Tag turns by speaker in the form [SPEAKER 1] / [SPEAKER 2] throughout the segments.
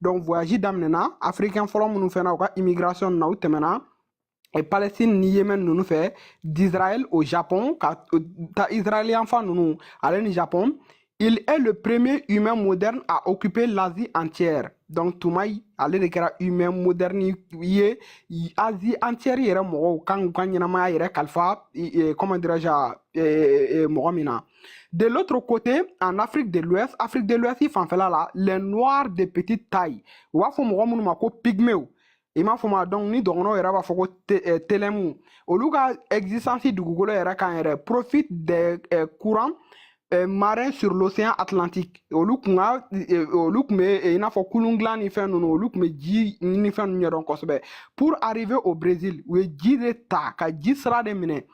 [SPEAKER 1] donc voyage daminɛna africain fɔlɔ minnu fɛnna u ka immigration na u tɛmɛna e palestine ni yemen ninnu fɛ d'israël au japon ka ta israël yanfan ninnu ale ni japon il est le premier humain moderne à occuper l'asie entière donc toumaï ale de kɛra humain moderne ye asie entière yɛrɛ mɔgɔw kan k'u ka ɲɛnamaya yɛrɛ kalifa comment dirais-je mɔgɔ min na De l'autre côté, en Afrique de l'Ouest, Afrique de l'Ouest, fanfɛla la, les noirs de petite taille. U b'a fɔ mɔgɔ minnu ma ko pygmew. i m'a fɔ ma donc ni dɔgɔnɔw yɛrɛ b'a fɔ ko eh, telɛmu olu ka existence dugukolo yɛrɛ kan yɛrɛ profite des eh, courants eh, marins sur l'océan atlantique olu kun ka olu kun bɛ i n'a fɔ kulun dilan ni fɛn ninnu olu kun bɛ ji ni fɛn ninnu ɲɛdɔn kosɛbɛ pour arriver au Brésil u ye ji de ta ka ji sira de minɛ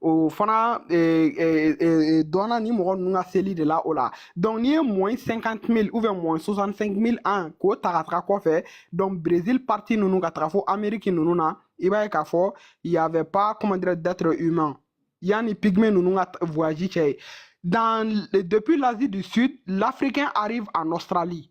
[SPEAKER 1] o fana e, e, e, e dɔnna ni mɔgɔ ninnu ka seli de la o la donc n'i ye moins cinquante mille ou bien moins soixante cinq mille ans k'o ta ka taga kɔfɛ donc brésil partie ninnu ka taga fo amérique ninnu na i b'a ye k'a fɔ y avait pas comment dire d'être humain yanni pygmée ninnu ka voyage cɛ yen depuis l'asie du sud l'africain arrive en australie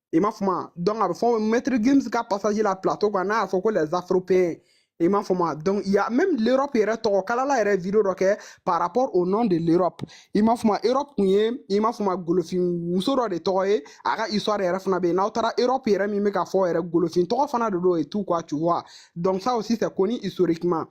[SPEAKER 1] i ma fɔ ma donc a bɛ fɔ maître gims ka passage la plateau kan n'a y'a fɔ ko les afropéens i m'a fɔ ma donc il y a même l'Europe yɛrɛ tɔgɔ kalala yɛrɛ video dɔ kɛ par rapport au nom de l'Europe i m'a fɔ ma Europe kun ye i m'a fɔ ma golofin muso dɔ de tɔgɔ ye a ka histoire yɛrɛ fana bɛ yen n'aw taara Europe yɛrɛ min bɛ ka fɔ yɛrɛ golofin tɔgɔ fana de don et tout quoi tu vois donc ça aussi c'est connu historiquement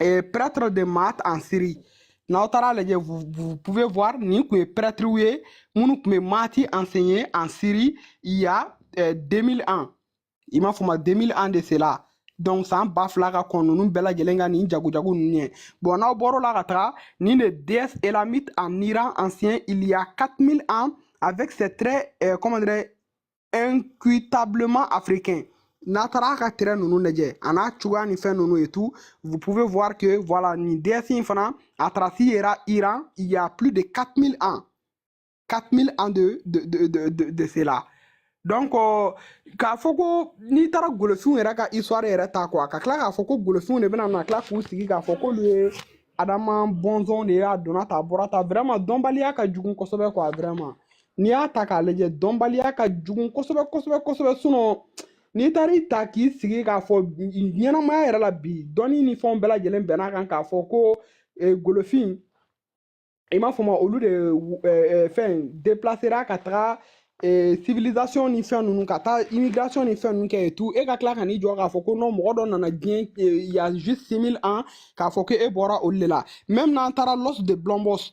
[SPEAKER 1] et prêtre de Maât en Syrie. N'aw taara lajɛ vous, vous pouvez voir nin kun ye prêtriw ye minnu kun bɛ Maât enseigner en Syrie il y a euh, 2000 ans i m'a fɔ ma 2000 ans de cela donc san ba fila ka kɔn ninnu bɛɛ lajɛlen ka nin jagojago ninnu ye bon n'aw bɔr'o la ka taga nin de déesse élamite en Iran ancien il y a 4000 ans avec ses traits euh, comment dirais incutablement africain n'a taar'a ka traits ninnu lajɛ an'a cogoya ni fɛn ninnu et tout vous pouvez voir que voilà nin déesse in fana a trace yera Iran il y a plus de 4000 ans 4000 ans de de de de de, de cela donc k'a fɔ ko n'i taara golofinw yɛrɛ ka histoire yɛrɛ ta quoi ka tila k'a fɔ ko golofinw de bɛna na tila k'u sigi k'a fɔ k'olu ye adama bɔnsɔnw de ye a donna tan a bɔra tan vraiment dɔnbaliya ka jugu kosɛbɛ quoi vraiment n'i y'a ta k'a lajɛ dɔnbaliya ka jugu kosɛbɛ kosɛbɛ kosɛbɛ sinon n'i taara i ta k'i sigi k'a fɔ ɲɛnamaya yɛrɛ la bi dɔnni ni fɛnw bɛɛ lajɛlen bɛn'a kan k'a fɔ ko e, golofin i m'a fɔ ma olu de e, e, fɛn depilasera ka taga civilisation ni fɛn ninnu ka taa immigration ni fɛn ninnu kɛ et tout e ka tila ka n'i jɔ k'a fɔ ko non mɔgɔ dɔ nana diɲɛ y a juste 6000 ans k'a fɔ ko e bɔra olu de la même n'an taara l'os de blombos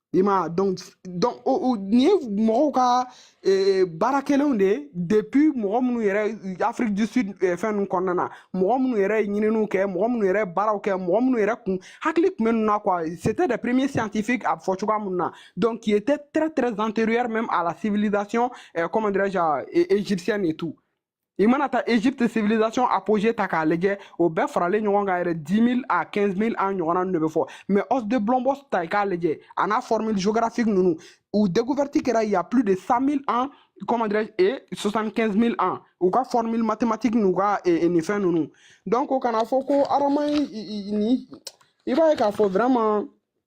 [SPEAKER 1] I ma donc donc o nin ye mɔgɔw ka baara kɛlenw de ye depuis mɔgɔ minnu yɛrɛ Afrique du Sud fɛn ninnu kɔnɔna na mɔgɔ minnu yɛrɛ ye ɲininiw kɛ mɔgɔ minnu yɛrɛ baaraw kɛ mɔgɔ minnu yɛrɛ kun hakili tun bɛ ninnu na quoi c'était des premiers scientifiques a fɔ cogoya minnu na donc qui étaient très très antérieur même à la civilisation comment dirais-je égyptienne et tout i mana taa Égypte civilisation apogee ta k'a lajɛ o bɛɛ faralen ɲɔgɔn kan yɛrɛ 10000 à 15000 ans ɲɔgɔnna ninnu de bɛ fɔ mais os de blombos ta i k'a lajɛ a n'a formule géographique ninnu u découverte kɛra il y a plus de 100000 ans comment dirais-je et 75000 ans u ka formule mathématique n'u ka nin fɛn ninnu donc o kana fɔ ko adama ni i b'a ye k'a fɔ vraiment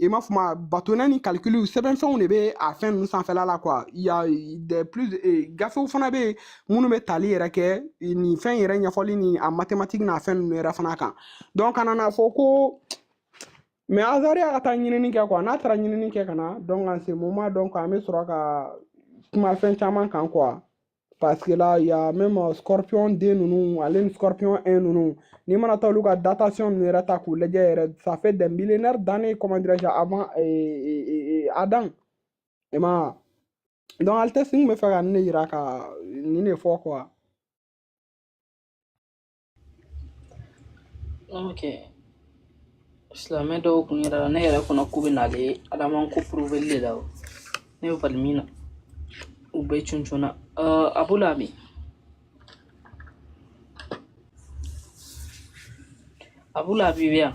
[SPEAKER 1] i m'a fɔ ma bâtonnets ni calcul sɛbɛnfɛnw de bɛ a fɛn ninnu sanfɛla la quoi il y a de plus eh, gafew fana bɛ yen minnu bɛ tali yɛrɛ kɛ eh, nin fɛn yɛrɛ ɲɛfɔli ni a mathématique n'a fɛn ninnu yɛrɛ fana kan donc an nana a fɔ ko mais azari a ka taa ɲinini kɛ quoi n'a taara ɲinini kɛ ka na donc en ce moment donc an bɛ sɔrɔ ka kuma fɛn caman kan quoi Paseke la yan mɛ ma sɔrɔpiyɔn den ninnu ale ni sɔrɔpiyɔn ɛ ninnu n'i mana taa olu ka datasɔn ninnu yɛrɛ ta k'u lajɛ yɛrɛ safe dɛmɛ dannen kɔmandirɛze a ma a dan i ma dɔn ali tɛ sun bɛ fɛ ka ne yira ka nin de fɔ
[SPEAKER 2] silamɛ dɔw kun yɛrɛ la ne yɛrɛ kɔnɔ ko bɛ n'ale ye adama ko prouverli de la o ne bɛ bali min na u bɛɛ cuncun na Abu Labi Abu Labi bɛ yan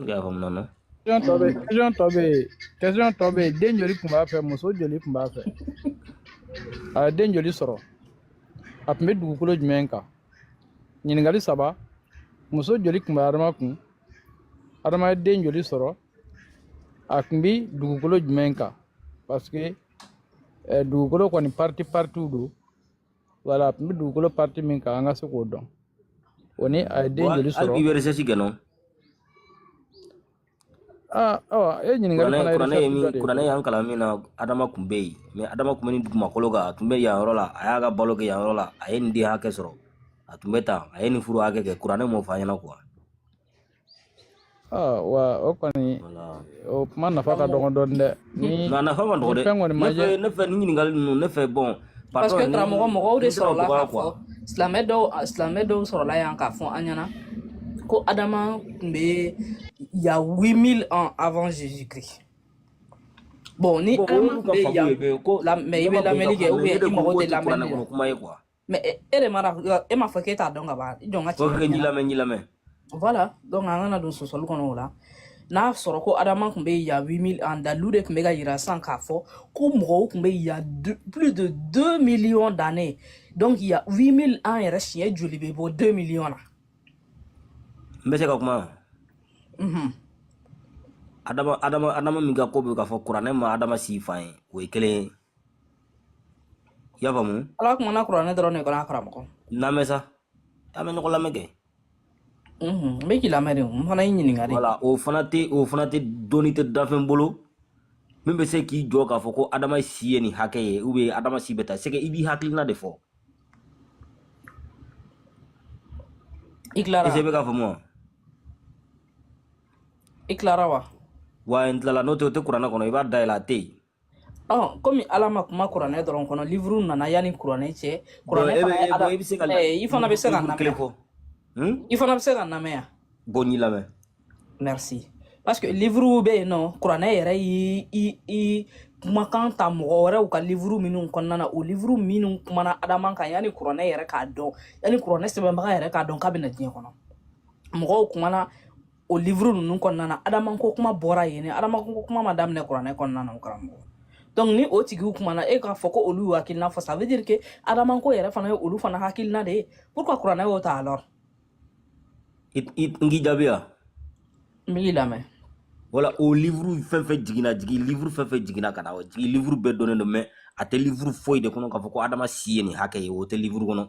[SPEAKER 3] I y'a faamu non. Question tɔ bɛ question tɔ bɛ
[SPEAKER 4] yen question tɔ bɛ yen den joli tun b'a fɛ muso joli tun b'a fɛ a ye den joli sɔrɔ a tun bɛ dugukolo jumɛn kan ɲininkali saba muso joli tun bɛ adama kun adama ye den joli sɔrɔ a tun bɛ dugukolo jumɛn kan parce que eh, dugukolo kɔni partie partiew don voilà a tun bɛ dugukolo partie min kan an ka se k'o dɔn o ni a ye den joli sɔrɔ hali i bɛ recherche kɛ non awa e ɲininkali fana kuranɛ ye min kuranɛ y'an kalan min
[SPEAKER 3] na adama tun bɛ yen mais adama tun bɛ nin dugumakolo kan a tun bɛ yan yɔrɔ la a y'a ka balo kɛ yan yɔrɔ la a ye nin den hakɛ sɔrɔ a tun bɛ tan a ye nin furu hakɛ kɛ kuranɛ m'o fɔ an ɲɛna quoi
[SPEAKER 4] wa o kɔni o kuma nafa ka dɔgɔ dɔɔni dɛ ni nafa man
[SPEAKER 3] dɔgɔ dɛ fɛn kɔni ma ye ne fɛ nin ɲininkali ninnu ne fɛ bon parce que karamɔgɔ
[SPEAKER 2] mɔgɔw de sɔrɔla k'a fɔ silamɛ dɔw silamɛ dɔw sɔrɔla yan k'a fɔ an ɲɛna ko adama tun bɛ yan 8000 ans avant jésus christ bon ni adama tun bɛ yan mais i bɛ lamɛnni kɛ ou bien i mago tɛ lamɛnni na mais e, e de mana e m'a fɔ k'e t'a dɔn ka ban i jɔ n ka cɛ kɛ n y'i lamɛn n y'i
[SPEAKER 3] lamɛn voilà
[SPEAKER 2] donc an kana don sɔsɔli kɔnɔ o la n'a sɔrɔ ko adama tun bɛ y a 8000 ans dalilu de tun bɛ ka yira sisan k'a fɔ ko mɔgɔw tun bɛ y a plus de 2 millions d'années donc y a 8000 ans yɛrɛ siɲɛ joli bɛ bɔ 2 millions
[SPEAKER 3] na n bɛ se ka kuma mhm adama adama adama min ka ko bɛ k'a fɔ kuranɛ ma adama si fan ye o ye kelen ye i y'a faamu ala kumana kuranɛ
[SPEAKER 2] dɔrɔn de kɔnɔ a karamɔgɔ lamɛn
[SPEAKER 3] sa an bɛ ɲɔgɔn lamɛn kɛ
[SPEAKER 2] n bɛ k'i lamɛn de n fana y'i ɲininka de voilà o fana tɛ o
[SPEAKER 3] fana tɛ dɔnni tɛ danfɛn bolo min bɛ se k'i jɔ k'a fɔ ko adama si ye nin hakɛ ye ou bien adama si bɛ taa c'est que i b'i hakilina de
[SPEAKER 2] fɔ i tilara est-ce i bɛ k'a faamu wa i tilara wa wa n tilala
[SPEAKER 3] n'o tɛ o tɛ kuranɛ kɔnɔ i b'a dayɛlɛ a tɛ yen ɔ komi ala ma
[SPEAKER 2] kuma kuranɛ dɔrɔn kɔnɔ livuru nana yanni kuranɛ cɛ kuranɛ e fana ye ala i se ka eh, i fana bɛ se ka n lamɛn yan hmm? i fana bɛ se ka n lamɛn yan bon n b'i lamɛn
[SPEAKER 3] merci
[SPEAKER 2] parce que livuru bɛ yen non kuranɛ yɛrɛ y'i i i kumakan ta mɔgɔ wɛrɛw ka livuru minnu kɔnɔna na o livuru minnu kumana adama kan yanni kuranɛ yɛrɛ k'a dɔn yanni kuranɛ sɛbɛnbaga yɛrɛ k'a dɔn k'a bɛna diɲɛ kɔnɔ mɔgɔw kumana o livuru ninnu kɔnɔna na adama ko kuma bɔra yen ne adama ko kuma ma daminɛ kuranɛ kɔnɔna na o karamɔgɔ donc ni o tigiw kumana e k'a fɔ ko olu y'u hakilina fɔ ça veut dire que adama ko yɛrɛ fana ye olu fana hakilina de ye pourquoi kuranɛ y'o ta
[SPEAKER 3] alors n k'i jaabi wa n
[SPEAKER 2] b'i lamɛn voilà
[SPEAKER 3] o livuru fɛn fɛn jiginna jigi livuru fɛn fɛn jiginna ka na o jigi livuru bɛɛ dɔnnen don mais a tɛ livuru foyi de kɔnɔ k'a fɔ ko adama si ye nin hakɛ ye o tɛ livuru kɔnɔ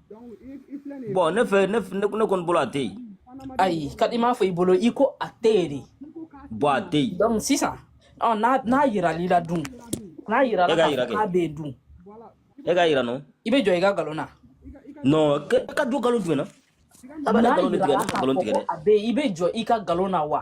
[SPEAKER 3] bon ne fɛ ne ne kɔni bolo a tɛ yen ayi ka
[SPEAKER 2] i m'a fɔ i bolo i ko a tɛ yen de bon a tɛ yen
[SPEAKER 3] donc sisan ɔ
[SPEAKER 2] n'a n'a yirala i la dun n'a yirala k'a bɛ yen dun e k'a
[SPEAKER 3] yira non i bɛ jɔ i ka nkalon
[SPEAKER 2] na non
[SPEAKER 3] ka jɔ nkalon jumɛn na a bɛ nkalon
[SPEAKER 2] tigɛ nkalon tigɛ dɛ a bɛ i bɛ jɔ i ka nkalon na wa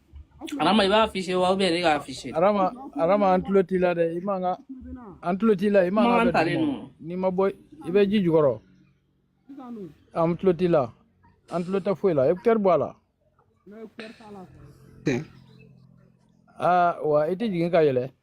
[SPEAKER 2] Arama i b'a afficher wa ou bien ne k'a afficher Arama Arama an
[SPEAKER 4] tulo t'i la dɛ i mankan an tulo t'i la i man mankan ka talen bɛ don. n'i ma
[SPEAKER 2] bɔ i
[SPEAKER 4] bɛ ji jukɔrɔ an tulo t'i la an tulo tɛ foyi la écouteur bɔ a la aa wa i tɛ jigin ka yɛlɛn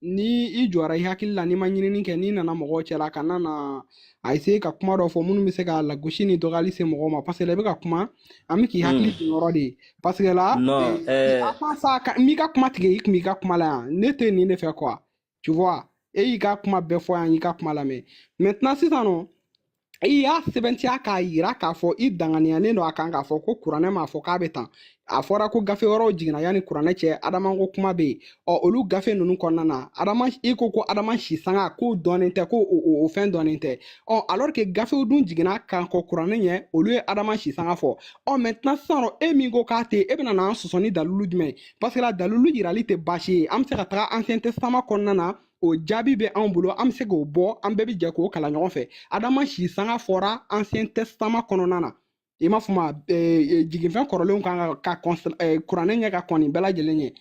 [SPEAKER 1] ni i jɔra i hakili la n'i ma ɲinini kɛ n'i nana mɔgɔw cɛla ka na na essayer ka kuma dɔ fɔ minnu bɛ se ka lagosi ni dɔgɔyali se mɔgɔw ma parce que là i bɛ ka kuma an bɛ k'i hmm. hakili to yɔrɔ de ye parce que là eh,
[SPEAKER 3] eh.
[SPEAKER 1] sa n b'i ka kuma tigɛ i kun b'i ka kuma la yan ne tɛ nin de fɛ quoi tu vois e y'i ka kuma bɛɛ fɔ yan n y'i ka kuma lamɛn maintenant sisan nɔ i y'a sɛbɛntiya k'a yira k'a fɔ i danganiyalen don a kan k'a fɔ ko kuranɛ m'a fɔ k'a bɛ tan a fɔra ko gafe wɛrɛw jiginna yanni kuranɛ cɛ adama ko kuma bɛ yen ɔ olu gafe ninnu kɔnɔna na adama i ko ko adama si sanga k'o dɔnnen tɛ ko o fɛn dɔnnen tɛ ɔ alors que gafew dun jiginna ka kɔn kuranɛ ɲɛ olu ye adama si sanga fɔ ɔ maintenant sisan e min ko k'a tɛ e bɛna n'an sɔsɔ ni dalilu jumɛn ye parce que la dalilu yirali tɛ baasi ye an bɛ se ka taga ancien testament kɔnɔna na o jaabi bɛ anw bolo an bɛ se k'o bɔ an bɛɛ bɛ jɛ k'o kalan ɲɔgɔn fɛ adama si sanga fɔra ancien testament kɔnɔna na i n'a fɔ ma jiginfɛn kɔrɔlenw ka kɔn kuranɛ ɲɛ ka kɔn nin bɛɛ lajɛlen ɲɛ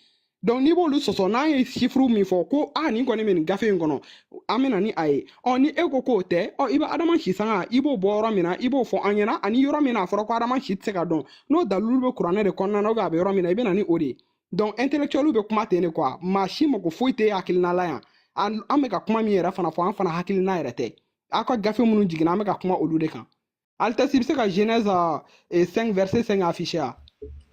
[SPEAKER 1] donc n'i b'olu sɔsɔ n'an ye chiffre min fɔ ko a nin kɔni bɛ nin gafe in kɔnɔ an bɛ na ni a ye ɔ ni e ko k'o tɛ ɔ i bɛ adama si sanga i b'o bɔ yɔrɔ min na i b'o fɔ an ɲɛna ani yɔrɔ min na a fɔra ko adama si tɛ se ka dɔn n'o dalilu bɛ kuranɛ de kɔnɔna na a bɛ yɔrɔ min na i bɛ na ni o de ye donc intellectuel bɛ kuma ten de quoi maa si mako foyi tɛ hakilina la yan an an bɛ ka kuma min yɛrɛ fana fɔ an fana hakilina yɛrɛ tɛ aw ka gafe minnu jiginna an bɛ ka kuma olu de kan altesse bɛ se ka genèse eh, 5 verset 5 affiché a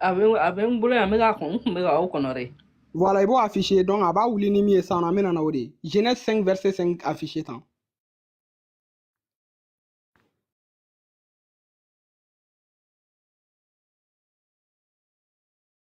[SPEAKER 1] a bɛ a bɛ n
[SPEAKER 2] bolo yan n bɛ k'a kɔn n tun bɛ ka aw kɔnɔ dɛ voilà i
[SPEAKER 1] b'o affiché donc a baa wuli ni min ye sisan an bɛ na n'o de ye genèse 5 verset 5 affiché tan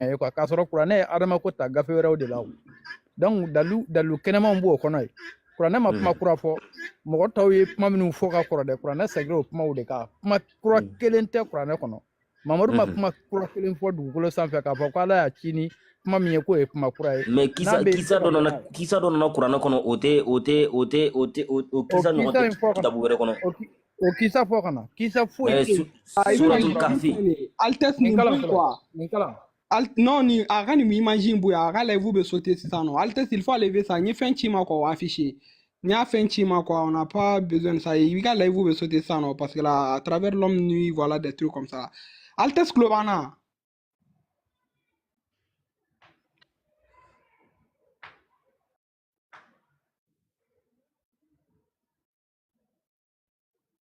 [SPEAKER 4] ye eh, k'a sɔrɔ kuranɛ ye adama ko ta gafe wɛrɛw de la o donc dalu dalu kɛnɛmanw b'o kɔnɔ ye kuranɛ ma kuma kura fɔ mɔgɔ tɔw ye kuma minnu fɔ ka kɔrɔ dɛ kuranɛ segira o kumaw de kan kuma kura kelen tɛ kuranɛ kɔnɔ mamadu ma kuma kura kelen fɔ dugukolo sanfɛ k'a fɔ ko ala y'a ci ni kuma min ye k'o ye kuma kura ye mais kisa kisa dɔ
[SPEAKER 3] nana kisa dɔ nana kuranɛ kɔnɔ o tɛ o tɛ o tɛ o tɛ o kisa ɲɔgɔn tɛ kitabu wɛrɛ kɔnɔ o
[SPEAKER 4] kisa fɔ kana kisa foyi tɛ
[SPEAKER 3] suratul
[SPEAKER 4] kahfi
[SPEAKER 1] altesse
[SPEAKER 3] nin kalan
[SPEAKER 1] quoi nin
[SPEAKER 4] kalan Al non nin
[SPEAKER 1] a ka nin image in bɔ yen a ka live bɛ sauter sisan nɔ altesse il faut enlever ça n ye fɛn ci i ma quoi o afficher n y'a fɛn ci i ma quoi on n'a pas besoin de ça i ka live bɛ sauter sisan nɔ parce que là à travers l'homme nu voilà des trucs comme ça altesse tulo b'an na.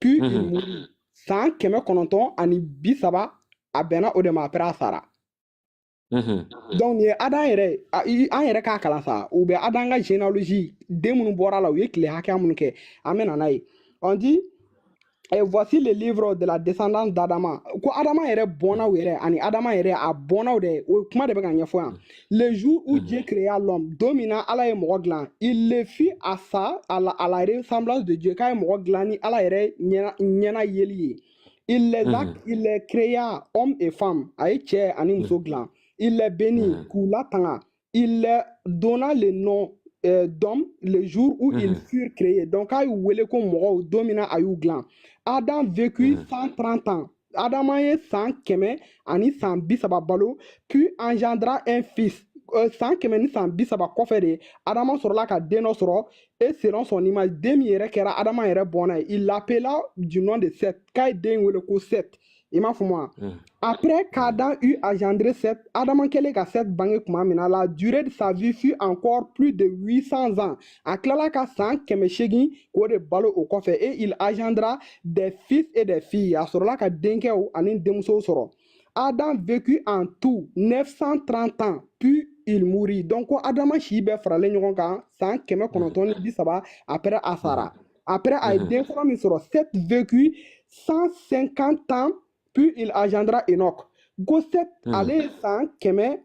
[SPEAKER 1] pu san kɛmɛ kɔnɔntɔn ani bi saba a bɛnna o de ma a sara donc nin ye Adam yɛrɛ an yɛrɛ k'a kalan sa u bɛ Adam ka généalogie den minnu bɔra a la u ye tile hakɛya minnu kɛ an bɛ na n'a ye on dit Et voici le livre de la descendance d'Adama. Ko Adama yɛrɛ bɔnnaw yɛrɛ ani Adama yɛrɛ a bɔnnaw de o kuma de bɛ ka ɲɛfɔ yan. Le jour où mhm. Dieu créa l'homme, don min na ala ye mɔgɔ dilan. Il le fit à sa, à la, à la ressemblance de Dieu. K'a ye mɔgɔ dilan ni ala yɛrɛ ɲɛna, ɲɛna yeli ye. Il les a, mhm. il les créa hommes et femmes. A ye cɛ ani muso mhm. dilan. Il les bénit, k'u latanga. Il les donna le nom euh, d'homme le jour où ils furent créés. Donc, a y'u wele ko mɔgɔw, don min na a y'u dilan. Adam vécut 130 ans. Adama ye san kɛmɛ ani san bi saba balo puis engendra un fils euh, san kɛmɛ ni san bi saba kɔfɛ de adama sɔrɔla ka den dɔ sɔrɔ et selon son image den min yɛrɛ kɛra adama yɛrɛ bɔnna ye il l'appela du nom de seth k'a ye den wele ko seth i m'a faamu wa hmm. après qu'adam eut engendré seth adama kɛlen ka seth bange tuma min na la durée de sa vie fut encore plus de 800 ans a tilala ka san kɛmɛ seegin k'o de balo o kɔfɛ et il engendra des fils et des filles a sɔrɔla ka denkɛw ani denmusow sɔrɔ adam vécut en tout 930 ans puis il mourit donc ko adama si bɛɛ faralen ɲɔgɔn kan san kɛmɛ kɔnɔntɔn ni bi saba après a sara après a ye den fɔlɔ min sɔrɔ seth vécut 150 ans puis il engendra enoch ko seth ale ye san kɛmɛ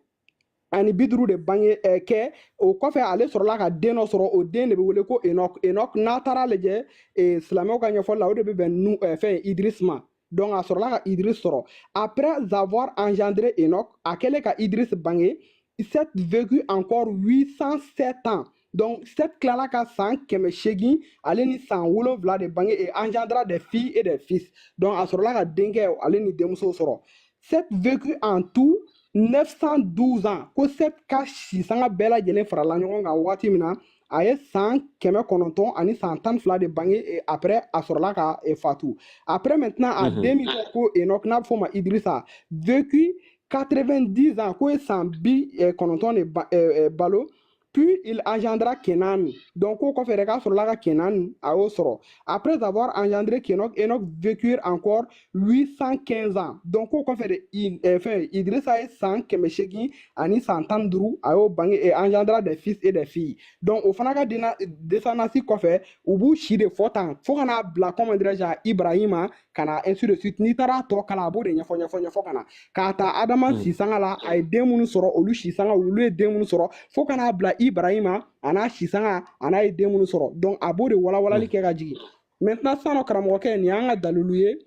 [SPEAKER 1] ani bi duuru de bange eh, kɛ o kɔfɛ ale sɔrɔla ka den dɔ sɔrɔ o den de bɛ wele ko enoch enoch n'a taara lajɛ eh, silamɛw ka ɲɛfɔli la o de bɛ bɛn nu eh, fɛn idiris ma donc a sɔrɔla ka idiris sɔrɔ après avoir engendré enoch a kɛlen ka idiris bange seth vécut encore 807 ans Donc, Seth tilala ka san kɛmɛ seegin ale ni san wolonwula de bange et engendra des filles et des fils. Donc, a sɔrɔla ka denkɛ ale ni denmuso sɔrɔ. Seth vécut en tout 912 ans ko Seth ka si sanga bɛɛ lajɛlen farala ɲɔgɔn kan wagati min na a ye san kɛmɛ kɔnɔntɔn ani san tan fila de bange et après a sɔrɔla ka eh, fatu. Après maintenant a Mhm. den min kɛ ko Enoch n'a bɛ f'o ma Idrissa vécut 90 ans k'o ye san bi eh, kɔnɔntɔn de ba- eh, eh, balo Puis il engendra Kenan. Donc, o kɔfɛ de k'a sɔrɔla ka Kenan a y'o sɔrɔ. Après avoir engendré Kenog, Enoch vécut encore 815 ans. Donc, o kɔfɛ de I- eh, fɛn Idrissa ye san kɛmɛ seegin ani san tan ni duuru a y'o bange et engendra des fils et des filles. Donc, o fana ka dena- descendance kɔfɛ u b'u si de fɔ tan fo ka n'a bila comment dirais-je à Ibrahima ka na ainsi de suite n'i taara tɔ kalan a b'o de ɲɛfɔ ɲɛfɔ ɲɛfɔ ka na k'a ta adama mm. sisanga la a ye den minnu sɔrɔ olu sisanga olu ye den minnu sɔrɔ fo ka n'a bila ibarahima a n'a sisanga a n'a ye den minnu sɔrɔ donc a b'o de walawalali mm. kɛ ka jigin maintenant sisan nɔ karamɔgɔkɛ nin y'an ka dalilu ye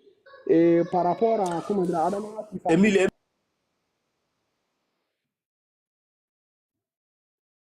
[SPEAKER 1] eh, par rapport à comment dire adama sisanga